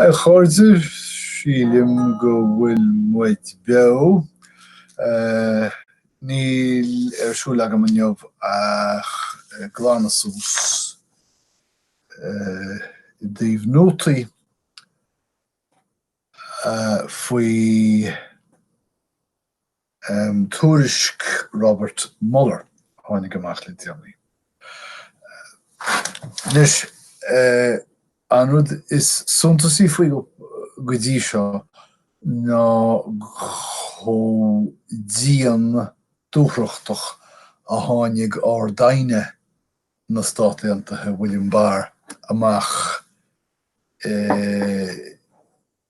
A chairde, sílim go bhfuil muid beo. Níl ar siúl agam inniu ach glanadh suas i dtaobh nótaí faoi. Um tuairisc Robert Mueller a tháinig amach le déanaí. Anois, an rud is suntasaí faoi go dtí seo ná chomh dian dúthrachtach a tháinig Ard-Aighne na Stát Aontaithe, William Barr, amach i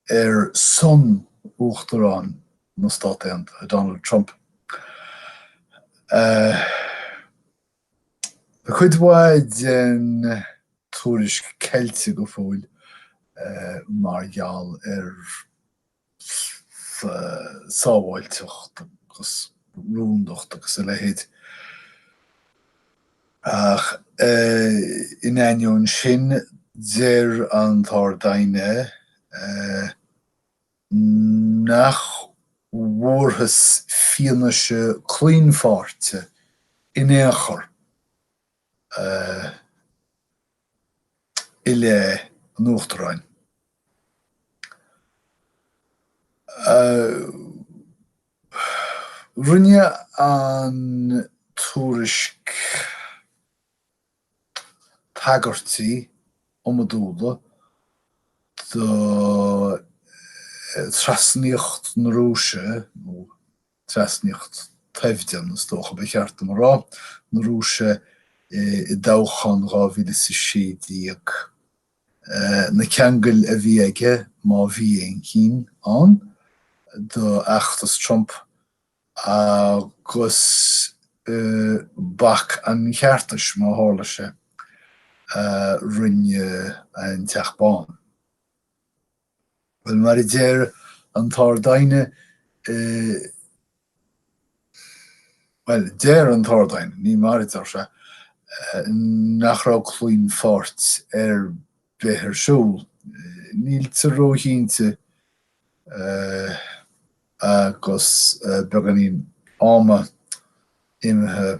ar son Uachtarán na Stát Aontaithe, Donald Trump. Tá cuid mhaith den tuairisc ceilte go fóill mar gheall ar sábháilteacht agus rúndacht agus a leithéid. Ach in ainneoin sin deir an tArd-Aighne nach bhfuarthas fianaise claonpháirte in aon chor i leith an Uachtaráin. Rinne an tuairisc tagairtí iomadúla do thrasnaíocht na Rúise, nó trasnaíocht thoimhdean, is dócha ba cheart dom a rá, na Rúise i dtoghchán 2016. na ceangail a bhí aige, má bhí aon chinn ann, d'fheachtas Trump agus bac an cheartais, má tharla sé, a rinne an Teach Bán. Bhuel, mar a deir an tArd-Aighne, bhuel, deir an tArd-Aighne, ní mar a deir sé, nach raibh claonpháirt ar bith ar siúl. Níltear róchinnte agus beagáinín ama imithe.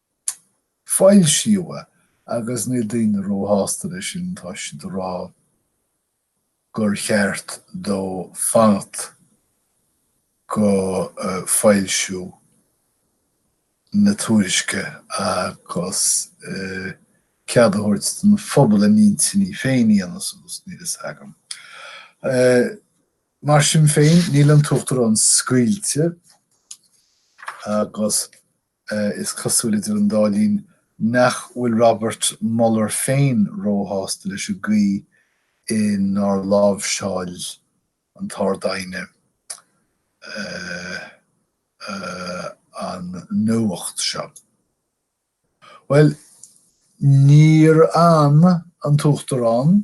foilsíodh agus níl daoine ró-shásta le sin tá siad a rá gur cheart dó fanacht go foilsiú na tuairisce agus cead a thabhairt don phobal a n-intinní féin a dhéanamh suas, níl fhios agam. Mar sin féin níl an tUachtarán scaoilte agus. Is cosúil idir an dá linn nach bhfuil Robert Mueller féin róshásta leis an gcaoi inar láimhseáil an tArd-Aighne an nuacht seo. Bhuel, níor fhan an tUachtarán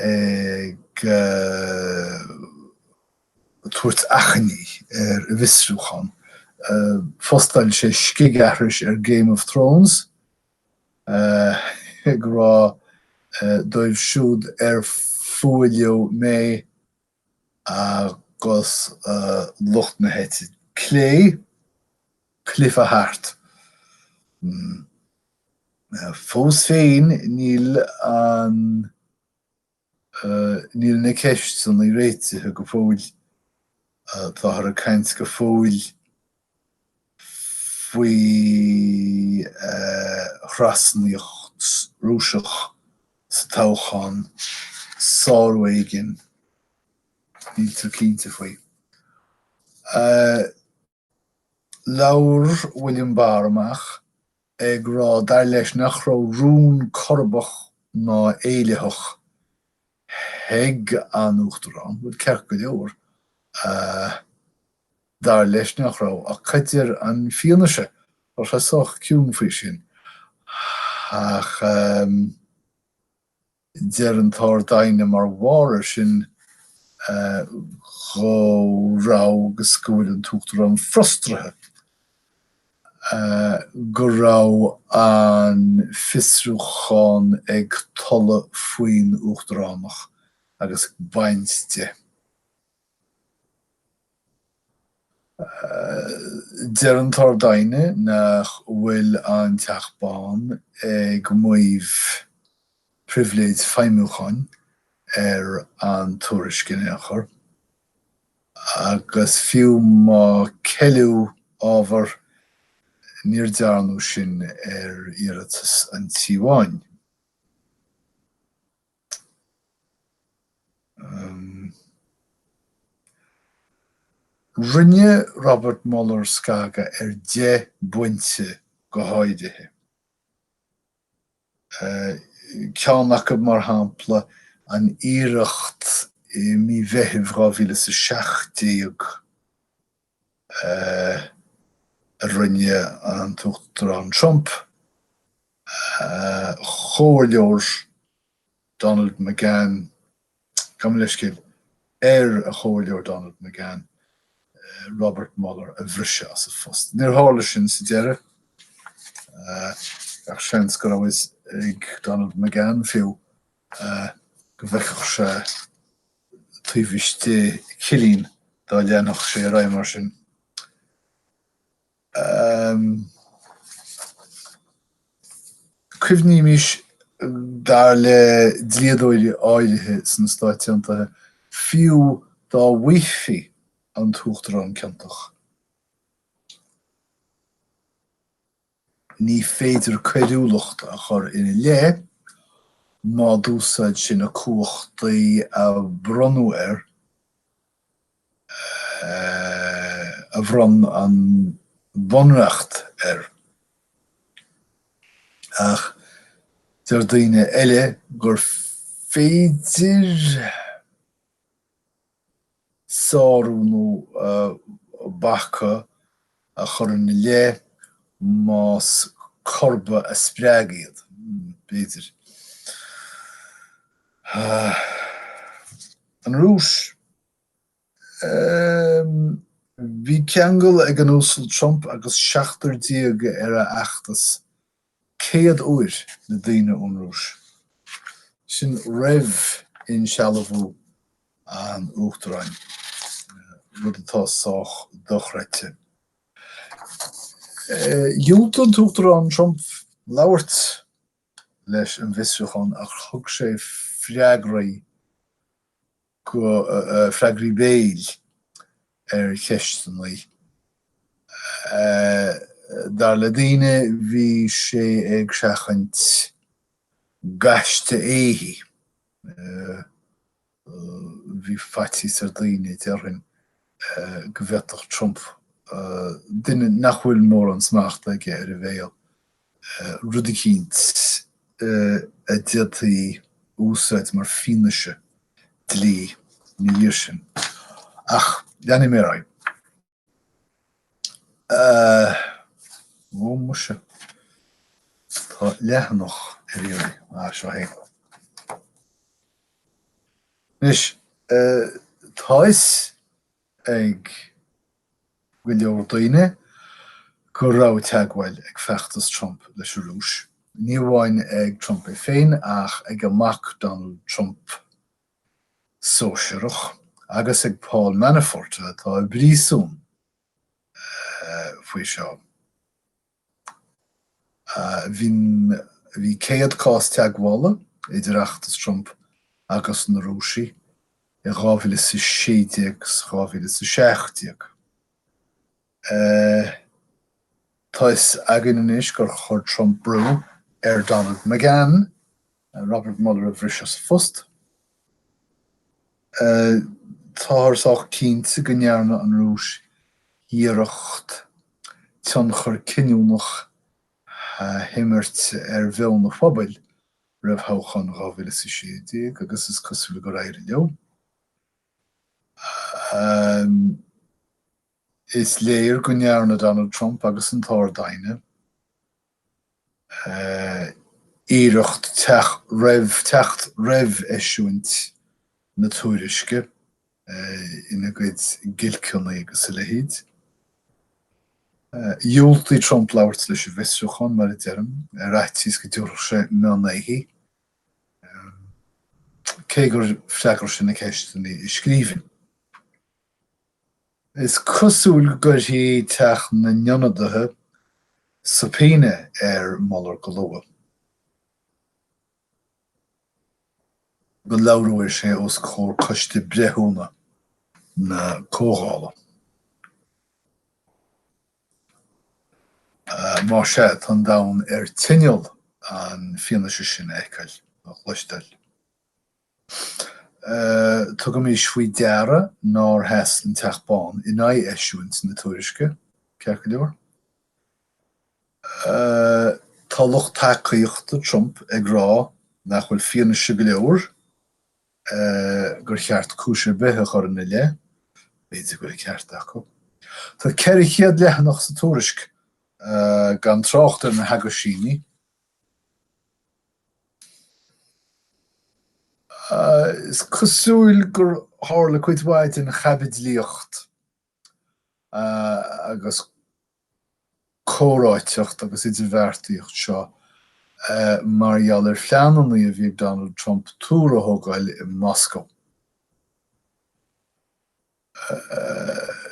ag tabhairt achainí ar an bhfiosrúchán. Phostáil sé scigaithris ar Game of Thrones ag rá dóibh siúd ar fuath leo mé, agus lucht na heite clé cluiche thart. Fós féin níl an níl na ceisteanna réitithe go fóill. Táthar ag caint go fóill faoi thrasnaíocht Rúiseach sa toghchán, sárú éigin, níltear cinnte faoi. Labhair William Barr amach ag rá dar leis nach raibh rún corbach ná éillitheach ag an Uachtarán, bhuel ceart go leor, Dar leis nach raibh ach cad a deir an fianaise curtha sách ciúin faoi sin. Ach deir an tArd-Aighne mar bharr ar sin go raibh agus go bhfuil an tUachtarán frustraithe go raibh an fiosrúchán ag tolladh faoin Uachtaránacht agus ag baint de. Deir an tArd-Aighne nach bhfuil an Teach Bán ag maíomh pribhléid feidhmiúcháin ar an tuairisc in aon chor, agus fiú má ceileadh ábhar, níor dearnadh sin ar iarratas an Tí Bháin. Rinne Robert Mueller scagadh ar 10 bpointe go háirithe. Ceann acu, mar shampla, an iarracht i mí Mheithimh 2017, eh a rinne an tUachtarán Trump ar a chomhairleoir Donald McGahn, gabh mo leithscéal, ar a chomhairleoir Donald McGahn, Robert Mueller a bhriseadh as a phost. Níor tharla sin sa deireadh. Gach seans go raibh a fhios ag Donald McGahn fiú go bhfeicfeadh sé taobh istigh cillín dá leanfadh sé ar aghaidh mar sin. Cuimhnímis dar le dlíodóirí áirithe sna Stáit Aontaithe fiú dá bhfaighfí an tUachtarán ciontach. Ní féidir coiriúlacht a chur ina leith má d'úsáid sé na cumhachtaí a bronnadh air, a bhronn an Bunreacht air. Ach deir daoine eile gur féidir. sárú nó bacadh a chur in a leith más corbadh a spreag iad. B'fhéidir. An Rúis. Bhí ceangal ag an Uasal Trump agus seachtar déag ar a fheachtas céad uair le daoine ón Rúis. Sin roimh insealbhú an Uachtaráin, rud atá sách dochreidte. Dhiúltaigh an tUachtarán Trump labhairt leis an bhfiosrúchán ach thug sé freagraí go freagraí béil ar cheisteanna. Dar le daoine bhí sé ag seachaint gaiste éithigh. Bhí faitíos ar daoine, déarfainn, go bhféadfadh Trump, duine nach bhfuil mórán smachta aige ar a bhéal, rud eicínt a d'fhéadfaí a úsáid mar fianaise dlí ina dhiaidh sin. Ach leanfaidh mé ar aghaidh. Ó muise, tá leathanach ar iarraidh. Ah, seo é. Anois, tá fhios ag go leor daoine go raibh teagmháil ag feachtas Trump leis an Rúis, ní amháin ag Trump é féin ach ag a mhac Donald Trump, sóisearach, agus ag Paul Manafort atá i bpríosún faoi seo. Bhí céad cás teagmhála idir fheachtas Trump agus na Rúisigh i 2016 is 2017. Tá's againn anois gur chuir Trump brú ar Donald McGahn Robert Mueller a bhriseadh as a phost. Táthar sách cinnte go ndearna an Rúis iarracht tionchar cinniúnach a imirt ar mheon an phobail roimh thoghcháin 2016 agus is cosúil gur éirigh leo. Is léir go ndearna Donald Trump agus an tArd-Aighne iarracht teacht roimh eisiúint na tuairisce ina gcuid giolcanna agus a leithéid. Dhiúltaigh Trump labhairt leis an bhfiosrúchán, mar a deirim, ar fhaitíos go dtabharfadh sé mionn éithigh, cé gur fhreagair sé na ceisteanna i scríbhinn. Is cosúil go gcuirfidh Teach na nIonadaithe subpoena ar Mueller go luath. Go labhróidh sé os comhair Coiste Breithiúna na Comhdhála. Más sea, tá an domhan ar tinneall an fianaise sin a fheiceáil, a chloisteáil. Tugaimis faoi deara nár sheas an Teach Bán in aghaidh eisiúint na tuairisce, ceart go leor. Tá lucht tacaíochta Trump ag rá nach bhfuil fianaise go leor gur cheart cúis ar bith a chur ina leith. B'fhéidir go bhfuil an ceart acu. Tá 400 leathanach sa tuairisc gan trácht ar na haguisíní. Is cosúil gur tharla cuid mhaith den chaibidlíocht agus comhráiteacht agus idirbheartaíocht seo mar gheall ar phleananna a bhí ag Donald Trump túr a thógáil i Moscó. Ahh.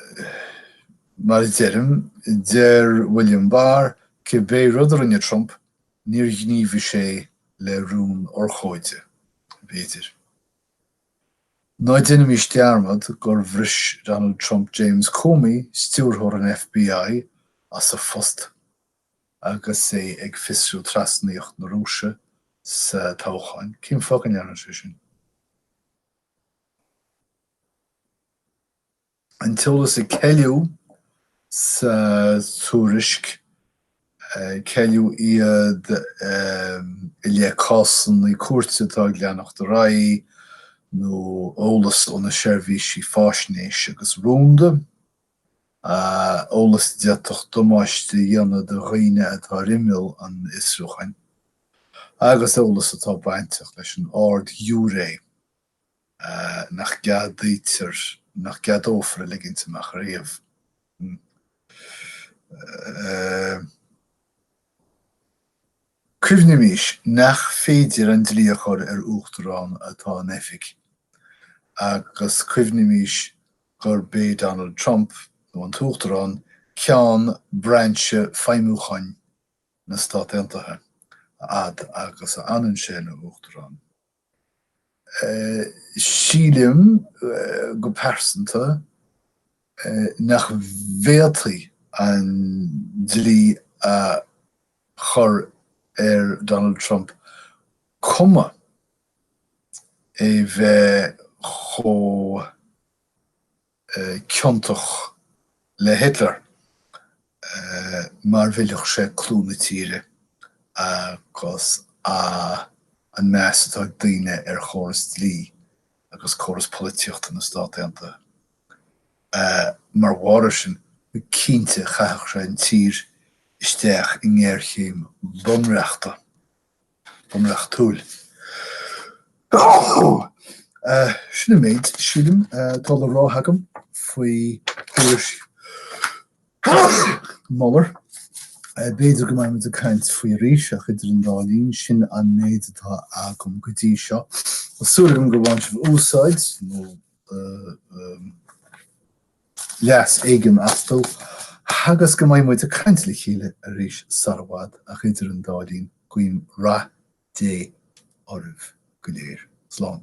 Mar a deirim, deir William Barr, cibé rud a rinne Trump, níor ghníomhaigh sé le rún urchóide. B'fhéidir. Ná déanaimís dearmad gur bhris Donald Trump James Comey, stiúrthóir an FBI, as a phost agus é ag fiosrú trasnaíocht na Rúise sa toghchán. Cén fáth go ndearna sé sin? An t-eolas a ceileadh sa tuairisc, ceileadh iad i leith cásanna cúirte atá ag leanacht ar aghaidh nó eolas ó na seirbhísí faisnéise agus rúnda, eolas a d'fhéadfadh damáiste a dhéanamh do dhaoine atá ar imeall an fhiosrúcháin, agus eolas atá bainteach leis an Ard-Ghiúiré. nach gceadaítear, nach gceadófar a ligint amach ariamh. Cuimhnimís nach féidir an dlí a chur ar Uachtarán atá in oifig agus cuimhnimís gurb é Donald Trump, nó an tUachtarán, ceann brainse feidhmiúcháin na Stát Aontaithe, a fhad agus a fhanann sé ina Uachtarán. Sílim go pearsanta nach bhféadfaí an dlí a chur ar Donald Trump cuma é bheith chomh ciontach le Hitler mar mhillfeadh sé clú na tíre agus an meas atá ag daoine ar chóras dlí agus córas polaitíochta na Stát Aontaithe. Mar bharr ar sin, cinnte chaithfeadh sé an tír isteach i ngéarchéim bhunreachta. bunreachtúil. Sin an méid, sílim, atá le rá agam faoi thuairisc Mueller. B'fhéidir go mbeimid ag caint faoi arís ach idir an dá linn sin an méid atá agam go dtí seo. Tá súil agam gur bhain sibh úsáid, nó. leas éigin astu, agus go mbeidh muid ag caint le chéile arís sar i bhfad, ach idir an dá linn, guím rath Dé oraibh go léir. Slán.